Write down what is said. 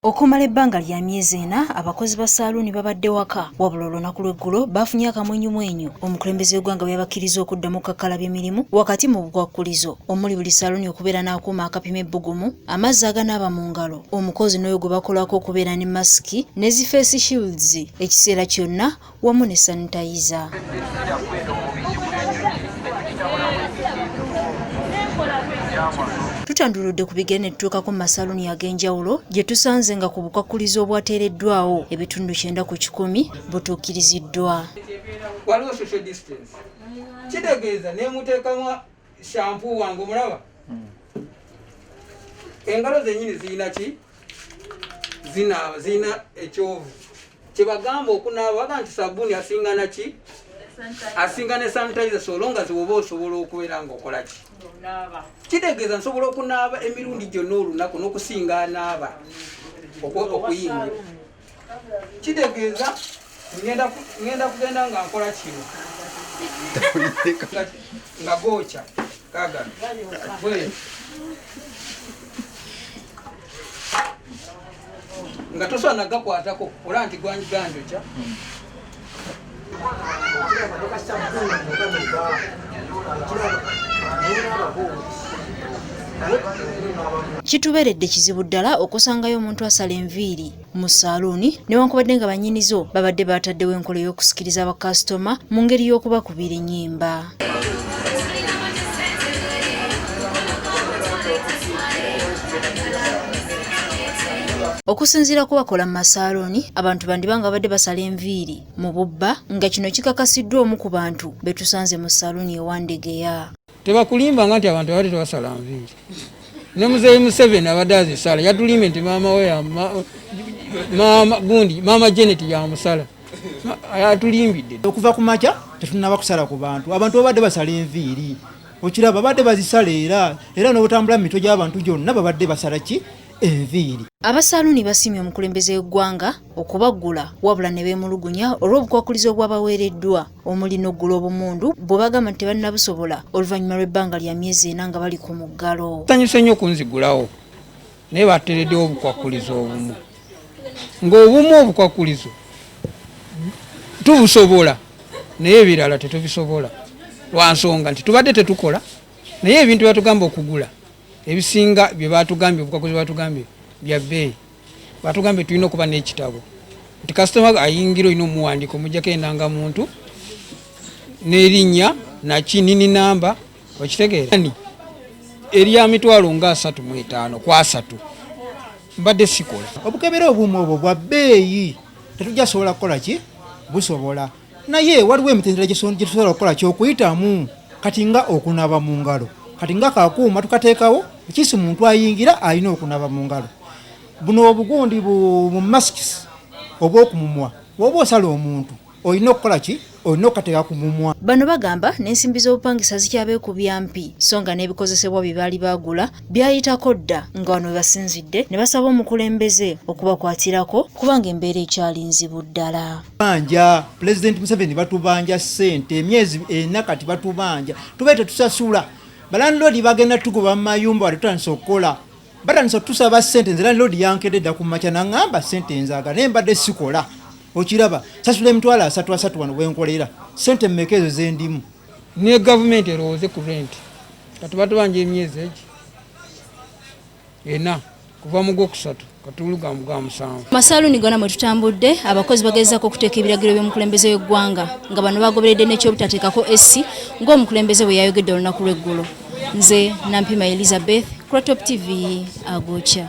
Okumala ebbanga lya myezi ena abakozi ba saaluuni babadde waka wabula olunaku lw'eggulo baafunye akamwenyumwenyu omukulembeze w'eggwanga bwe yabakkiriza okuddamu okukakkalabya emirimu wakati mu bukwakkulizo omuli buli saaluuni okubeera n'akuuma akapima ebbugumu amazzi aganaaba mu ngalo omukozi n'oyo gwe bakolako okubeera ne masiki ne zifeesi shields ekiseera kyonna wamu ne sanitayiza. Tutanduludde ku bigenda etutuukako mu masaluuni ag'enjawulo gye tusanze nga ku bukwakkulizo obwateereddwawo ebitundu kyenda ku kikumi butuukiriziddwa. Waliwo social distance kitegeeza ne muteekamu shampu wange omulaba hmm. engalo zennyini zirina ki zinaaba zirina ekyovu kyebagamba okunaaba baga nti sabuuni asinga naki asinga ne sanitizer solonga ziwoba osobola okubeera ngaokola ki kitegeeza nsobola okunaaba emirundi gyonna olunaku n'okusinga anaaba okuyingira kitegeeza ngenda kugenda nga nkola kino nga gookya kagano nga tosobola nagakwatako olaba nti gwanjiganjo kya kituberedde kizibu ddala okusangayo omuntu asala enviiri mu saaluuni newankubadde nga bannyini zo babadde baataddewo enkola y'okusikiriza bakasitoma mu ngeri y'okubakubira ennyimba okusinziira ku bakola mu masaaloni abantu bandiba nga babadde basala enviiri mu bubba nga kino kikakasiddwa omu ku bantu be tusanze mu saaloni ewandegeya tebakulimbanga nti abantu abadde tebasala nviiri ne muzeeyi museveni abadde azisala yatulimbe nti maama we maama gundi maama janet yamusala atulimbidde okuva ku makya tetunaba kusala ku bantu abantu babadde basala enviiri okiraba babadde bazisala era era n'obutambula mu mitwe gy'abantu gyonna babadde basala ki enviiri abasaaluuni basiimye omukulembeze w'eggwanga okubaggula wabula ne beemulugunya olw'obukwakulizo obwabaweereddwa omuli n'oggula obumundu bwe bagamba nti tebannabusobola oluvannyuma lw'ebbanga lya myezi ena nga bali ku muggalo sanyuse nnyo okunzigulawo naye batereddewo obukwakkulizo obumu ng'obumu obukwakkulizo tubusobola naye ebirala tetubisobola lwa nsonga nti tubadde tetukola naye ebintu byatugamba okugula ebisinga bye batugambye obukwakkulizo batugambye bya bbeeyi batugambye tulina okuba n'ekitabo nti kasitoma ayingira olina omuwandiika omujjako endanga muntu n'erinnya nakinini namba okitegeera erya mitwalo nga asatu mu etaano ku asatu mbadde sikola obukebera obumu obwo bwa bbeeyi tetujja sobola kukola ki busobola naye waliwo emitendera gyetusobola okukola kyokuyitamu kati nga okunaba mu ngalo kati nga kakuuma tukateekawo ekisi muntu ayingira alina okunaba mu ngalo buno obugundi mu masks obwokumumwa woba osala omuntu olina okukola ki olina okukateeka ku mumwa bano bagamba n'ensimbi z'obupangisa zikyabeekubya mpi so nga n'ebikozesebwa bye baali baagula byayitako dda nga wano webasinzidde ne basaba omukulembeze okubakwatirako kubanga embeera ekyali nzibu ddala banja pulezidenti museveni batubanja ssente emyezi ena kati batubanja tubae tetusasula balandiloodi bagenda tugoba mu mayumba wali tutandisa okukola batandisa otusaba ssente nze landiloodi yankedde dda ku makya naŋamba ssente enzaga naye mbadde sikola okiraba sasula emitwalo asatu asatu wano wenkolera ssente mmeka ezo zendimu ne government erowooze ku rent kati batubanja emyezi egi ena kuva mu gwokusatu katulugamu gwa musanvu masaluni gona mwe tutambudde abakozi bagezako okuteeka ebiragiro by'omukulembeze w'eggwanga nga bano bagoberedde n'ekyobutateekako essi ng'omukulembeze bwe yayogedde olunaku lw'eggulo nze nampima elizabeth crotop tv agokya